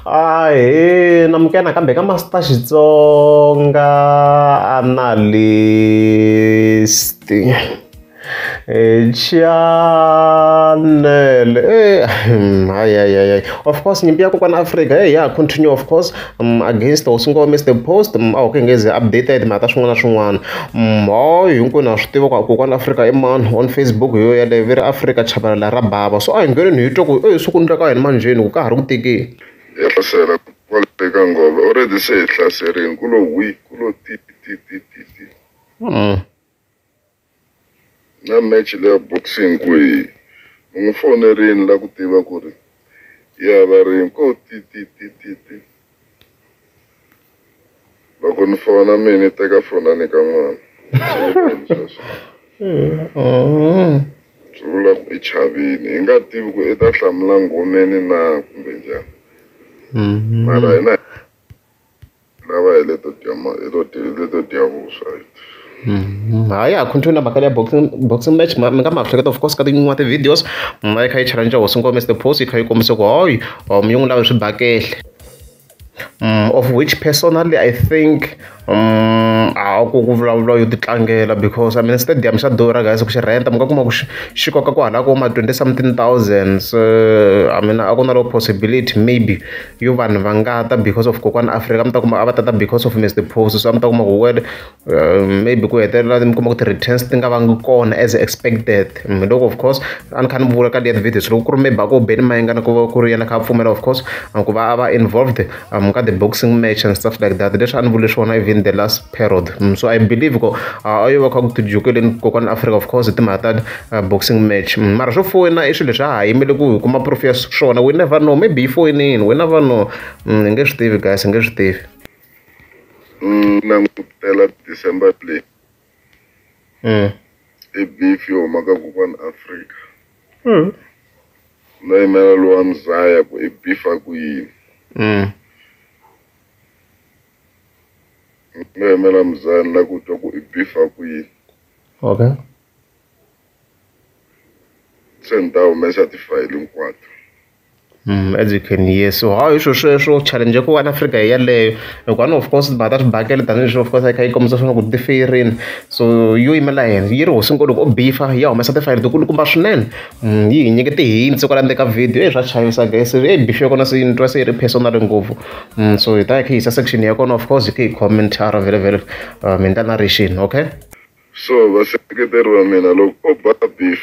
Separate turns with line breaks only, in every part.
ahe na muke nakambe ka masita xitsonga analyst e chanele e hayi hayi hayi of course nyimpi ya kokwana afrika heyi ya continue of course um, against or swi ngo miss the post um, a wu ke ngezi updated mhaka swin'wana na swin'wana um, hoy hinkwenu ha swi tiva ku kokwana afrika i mani on facebook hi yo yaleyo vi ri afrika chavelela ra bava so a hi ngheneni hi twa ku oyi swi ku ndleka yini manjheni ku ka ha ri ku tekeni ya hlasela
kwale eka ngolo already se hi hlaserini ku lo wi ku lo ti ti ti ti ti Na match leya boxing kwihi? Ni n'wi fonerile ni la ku tiva ku ri ya hava ring ko ti ti ti ti ti. Loko ni fona mina ni teka foni a nyika n'wana. Swi vula ku i chavile. Hi nga tivi ku i ta hlamula nghomeni na kumbe njhani. Mara hina. lava hi leto dya ma hi to dya hi leto dya vuswa hi Mhm.
ha ya ha continue na mhaka leya boxing boxing match ma- mi nga ma hleketa of course ka tin'wana ti-videos mi va yi kha yi challenge hosi ngome the post yi kha yi kombisa ku hoyi um yi n'wi lave swibakehle um, of which personally i think um, a ku ku vulavula yo titlangela because i mean stadium xa durha guys ku xi renta mi nga kuma ku xi xi koka ku halako ma 20 something thousands uh, i mean a ku na lo possibility maybe yo vanhu va nga ta because of kokwani Afrika mi ta kuma a va ta ta because of Mister Phosi so a mi ta kuma ku word uh, maybe ku hetelela mi kuma ku ti-returns ti nga vangi kona as expected mm, loko of course a ni kha ni vula ka liya videos loko ku ri maybe a ko beni mayingana ku va ku ri yena kha a pfumela of course ku va a va involved um, ka the boxing match and stuff like that leswi a ni vule swona even the last period mm, so i believe ko a yo va kha ku tijukeleni kokwana africa of course hi timhaka ta uh, boxing match mm, mara swo foyina i swilo leswi a ha yimele ku hi kuma proof ya swona we never know maybe yi foyinini we never know mm, hi nge swi tivi guys hi nge swi tivi
langutela december play i beef yo huma ka kokwana africa no yimela lowa mzaya ku i beef a ku yini Mina hi mela mzani la ku twa ku i bifa kwihi
okay
se ni ta humesa tifayili hinkwato Mm,
as you can hear so how hi swilo sweswo challenge ku one africa hi yeleyo hikuva ni of course timhaka ta swibakele tanihileswi of course a yi kha yi kombisa swona ku ti feyerini so yo yimela yena yi ri hosinkulu loko o bifa ya humesa tifayili tikulukumba swinene Mm, yi hi nyike ti-hints kwala ndzeni ka video e swa chavisa guys e bife ya kona se ni twa se yi ri personal ngopfu mm, so hi ta hi kha hi yisa section ya kona of course hi kha hi comment a ra vele vele uh, mi endla narration okay so
vaseketeri va mina loko o ba beef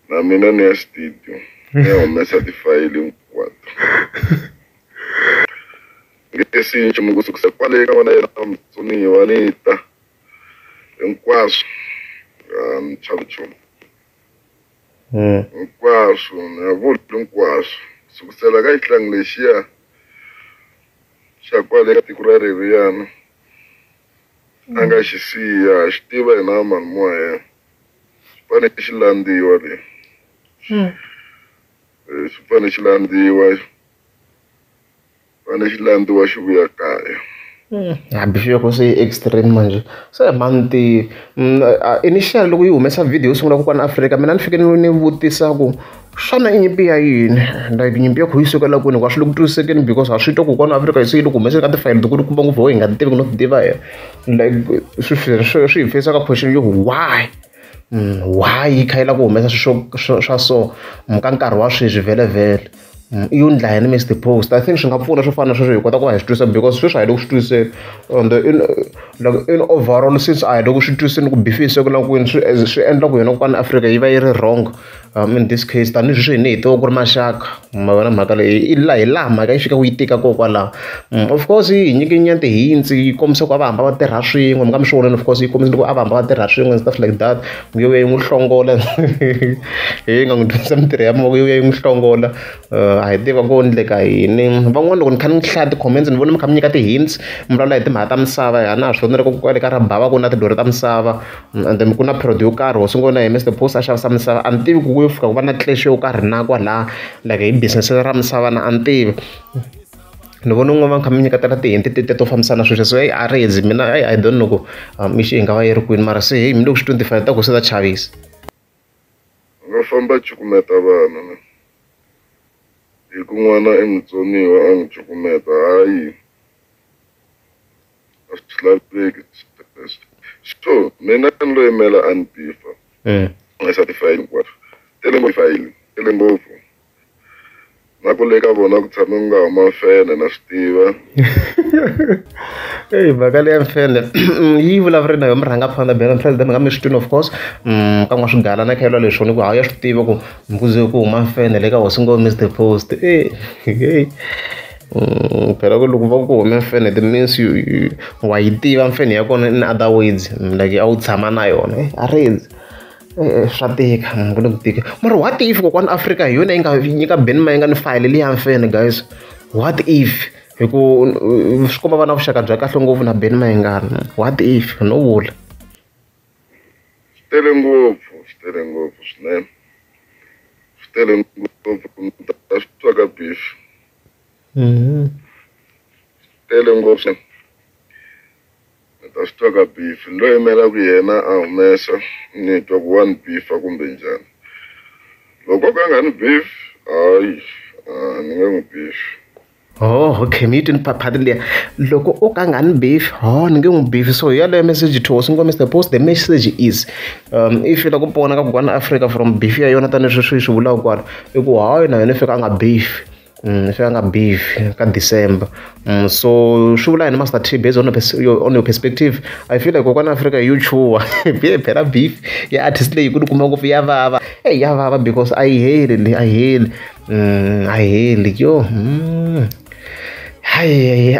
na mina ni ya studio ni ya humesa tifayili hinkwato nge si nchumu ku sukisa kwale ka vona yena mutsoniwa ni ta hinkwaswo a ni chavi nchumu hinkwaswo ni nga vuli hinkwaswo sukusela ka xihlangi lexiya xa kwale ka tiko ra riviyana a nga xi siya ha xi tiva hina vamalimi wa yena xi fane xi landziwa le xi fane xi landziwa va na xilandzi wa xivuyakaya hmm, hambi swi loko se
extreme manje se manti hmm, initial loko yi humesa video yo sungula kokwana afrika mina ni fike ni ni vutisa ku xana i nyimpi ya yini like nyimpi ya kho yi sukela kwini hikuva swi le ku twisisekeni because ha swi twa ku kona afrika yi se yi le ku humeseni ka tifayili tikulu kumbe ngopfu ho hi nga ti tivi ku no ti tiva hi like swi swi hi feyisa ka question yo why why yi kha yi lava ku humesa swilo swo swa so ka nkarhi wa sweswi vhelemuvhele i yo endla yini Mister Post I think swi nga pfuna swo fana na sweswo hi kota ku va hi swi twisisa because sweswi a hi le ku swi twisiseni and in loko in overall since a hi le ku swi twisiseni ku beef-a yi sungula kwini swi swi endla ku hina kwala Afrika yi va yi ri wrong. in this case tanihi sweswi hina hi tiva ku ri maxaka ma vona mhaka leyi i laha hi laha mhaka yi fika yi tika ko kwalaho of course yi hi nyike nyana hints yi kombisa ku a va hamba va tirha swin'we mi nga mi swi vonile of course yi kombisa loko a va hamba va tirha swin'we stuff like that mi yo ya yi n'wi hlongola hi nga n'wi dyondzisa mitirho ya mavoko yo ya yi n'wi hlongola a hi tiva ku endleka yini van'wana loko ni kha ni hlaya ti-comments ni vona mi kha mi nyika ti-hints mi vulavula hi timhaka ta misava hi a na ha swi vonile ko kwale ka ra bava ku na tilori ta misava And then ku na period yo karhi ho sungula na yena Mister Boss a xavisa misava a ni tivi ku ku yo fika ku va na clash yo karhi na kwalaya like hi business ra misava na a ni tivi ni vona un'wana va kha mi nyiketela ti-hint tete to fambisana na sweswo se heyi a ri zi mina heyi I don't know ku mixo yi nga va yi ri kwini mara se heyi mina loko swi te ni timfanelo ta koho se ta chavisa
va famba cukumeta
vanhu
ne hi ku n'wana i mutsoniwa a n'wi cukumeta hayi a swi laveki sweswo so mina ni lo yimela a ni bifa eh. nga sa tifayili hinkwaswo tele ngopfu fayili tele ngopfu na ku le ka vona ku tshame ku nga huma mfene na swi tiva
eyi mhaka leya mfene yi vulavuri na yo mi rhanga fana bela president nga mi swi twini of course mm, ka n'wa swigala na khelwa leswi ni ku hawu ya swi tiva ku mbuzi ku huma mfene le ka hosi ngo mr post eyi Mm, phela ku loko va ku hume mfene it means you, you wa yi tiva mfene ya kona in other words mm, like a wu tshama na yona eh, a rezi eh, eh, swa tika mm, ku le ku tika mara what if kokwana afrika hi yona yi nga nyika beni ma yi nga ni fayile leyi ya mfene guys what if hi ku swi komba va na vuxaka bya kahle ngopfu na beni ma yi ngani what if no vula
tele ngopfu swi tele ngopfu swinene swi tele ngopfu ta swi twa ka beef mhm. tele ngopfu ta swi twa ka beef ni lo yimelaku yena a humesa ni twa ku wa ni beefa kumbe njhani loko ka nga ni beef hayi ni nge n'wi beefi Oh,
okay mi yi twi ni phaphatini liya loko o ka nga ni beef ho ni nge n'wi beef so yaleyo message to swi nkombisa the post the message is um if la ku pona ka kokwana africa from beef ya yona tanihi sweswi yi swi vulaka kwala i ku hayi na yona fika a nga beef Mm, fika nga beef ka december mm, so swi vula yini master t based on, a pers- your, on your perspective i feel like kokwana africa hi yo chuwa biye phela beef ya artist leyi ku ni kuma ngopfu ya vava eyi ya vava because a yi heli le a yi heli mm, a hi heli yo mm. hayi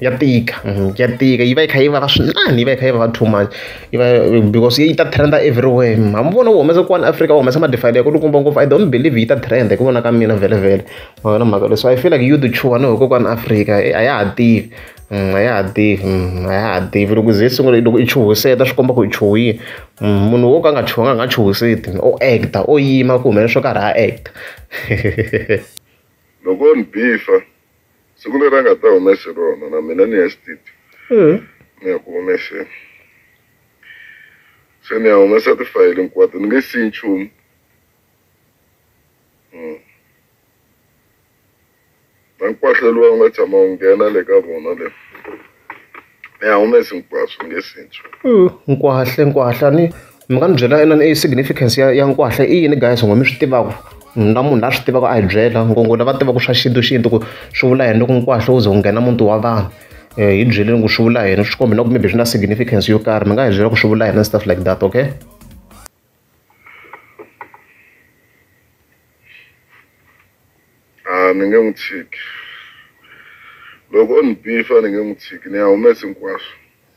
ya tika mm, ya tika yi va yi kha yi vava swinene yi va yi kha yi vava too much yi va because yi ta trenda everywhere mm, ha mi vona wu humesa kwani africa wu humesa madifayile ya ku lukumba ngopfu i don't believe yi ta trenda hi ku vona ka mina vhelevhele mavona mhaka leswi i feel like you the chuwa no hikokwani africa eh, a ya ha tivi a ya ha tivi a ya ha tivi loko ze sungula loko i chuhiseta swi komba ku i chuhile munhu wo ka a nga chuhanga a nga chuhiseti o act o yima ku humelela swo karhi a act
loko ni bifa siku leri a nga ta humese rona na mina ni ya studio hmm. ni ya ku humeseni se ni ya humesa tifayili hinkwato ni nge siyi nchumu hmm. na nkwahla lowu a wu nga tshama wu nghena le ka vona le mi a humesi hinkwaswo nge sintswi Mm, nkwahle nkwahle
ni mi nga ni byela yona i significance ya, ya nkwahle i yini guys ngo mi swi tivaka Mm, na munhu la swi tivaka a hi byela ngongo lava tivaka swa xintu xintu ku swi vula yini loko nkwahle wu ze wu nghena muti wa vanhu um hi byeleni ku swi vula yini swi kombi na ku maybe swi na significance yo karhi mi nga hi byela ku swi vula yini and stuff like that okay
a ni nge n'wi tshiki loko o ni bifa ni nge n'wi tshiki ni ya humesi hinkwaswo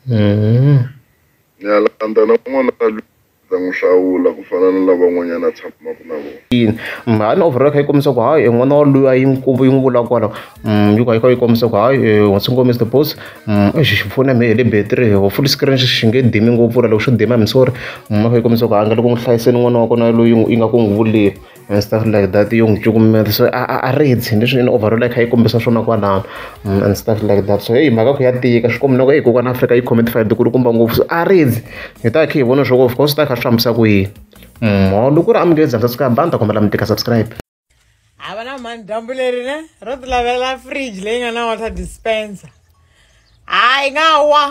mm-hmm. ni ya landza na n'wana loyi ta n'wi hlawula ku fana na lavan'wanyana a tshamaka na vona mhani overall kha yi kombisa
ku hayi e n'wana wa luya yi n'wi yi n'wi vula kwalaho Mm, yuko ayikho yikomisa ku hayi eh, what's ngo mr boss mm, exi xi pfune me hi le battery ho full screen xi xi nge dimi ngopfu ra loko xo dima mi sorry mm, ayikho yikomisa ku hayi nga loko n'wi hlayiseni n'wana wa kona loyi yi nga ku n'wi vulile and stuff like that yo n'wi cukumeta so a a- a ritsi leswi in overall a kha yi kombisa swona kwalano mm, and stuff like that so heyi mhaka ku ya tika swi kombi loko heyi kokwana afrika yi khome tifayido ku ri kumba ngopfu so a ritsi hi ta kha hi vona swo of course ta kha swi fambisa ku yini mholo ku ri amukeli dzansa swi ka banda kombela mi tika subscribe a va na
mhani dyambu leri ne ro ti lavela fridge leyi nga na water dispenser hayi nga wa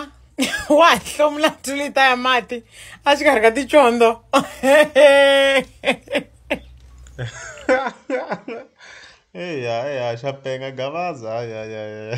wa hi hlomula tulita ya mati a xikarhi ka tichondo
eya eya xa penga gavaza ya ya ya